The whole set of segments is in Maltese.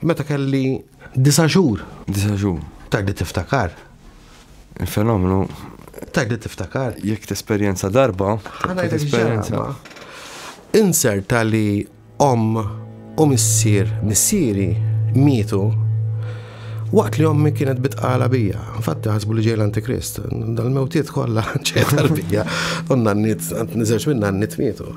Meta kelli disa' xhur. Disa' xhur. Tajli tiftakar. Il-fenomenu. Tajli tiftakar. Jekk tesperjenza darba. Ħana tesperjenza. Inser tali om u missier missieri mietu waqt li ommi kienet bitqala bija. Infatti ħasbu li ġej l-Antikrist. Dal-mewtiet kollha ġej tal-bija. Unna n-nit, niżerġ minna n-nit mietu.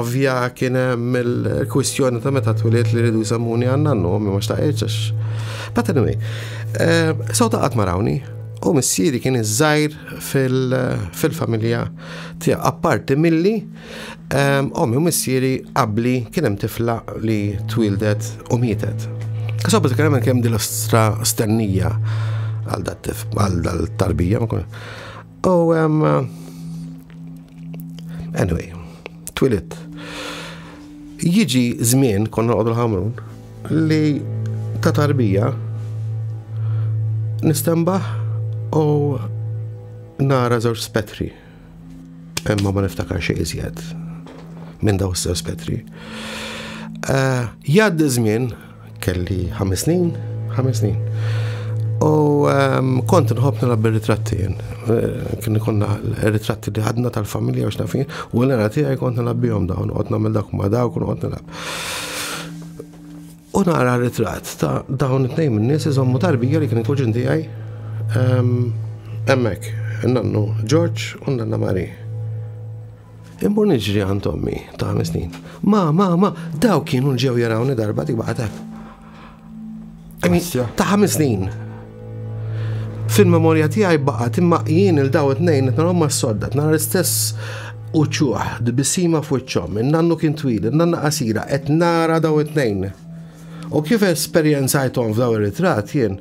Ovvja kien hemm il-kwistjoni ta' meta twiliet li rridu jsammuni għandna n-nom ma xtaqgħetx għax. But anyway, so ta' qatt marawni u missieri kien iż-żgħir fil-familja tiegħu. Apparti milli ommi u missieri qabli kien hemm tifla li twildet u mietet. So bad kien hemm kemm dil-ostra stennija għal dat-tarbija. U um, anyway, twilit. Jiġi żmien konna għodu l-ħamrun li ta' tarbija nistembaħ u nara żewġ spetri. Imma ma niftakar xejn iżjed minn daw żewġ spetri. Eh, Jgħaddi żmien Kelli ħames snin, ħames snin. U ehm, kont nħobb nilgħab bir-ritratti jien. Eh, kien konna ritratti li ħadna tal-familja u xnafin, u l-għana tiegħi kont nilgħab bihom dawn, qod nagħmel dak ma dawk u qod nilgħab. U nara ritratt ta' dawn it-tnejn minn nies iżommu tarbija li kien il-kuġin tiegħi ehm, hemmhekk, nannu George u nanna Marie. Immur niġri għand ommi ta' ħames snin. Ma, ma, ma, daw kienu l-ġew jarawni darba dik baqatek. Ta' ħames snin. Fil-memorja tiegħi baqgħet imma jien il-daw it-tnejn qed narhom mas-sodda, nara l-istess uċuħ, dbisima f'wiċċhom, in-nannu kien twil, in-nanna qasira, qed nara daw it-tnejn. U kif esperjenzajthom f'daw ir-ritratt jien,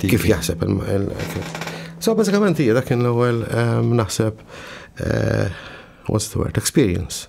kif jaħseb So bażikament hija dak kien l-ewwel ehm, naħseb eh, what's the word, experience.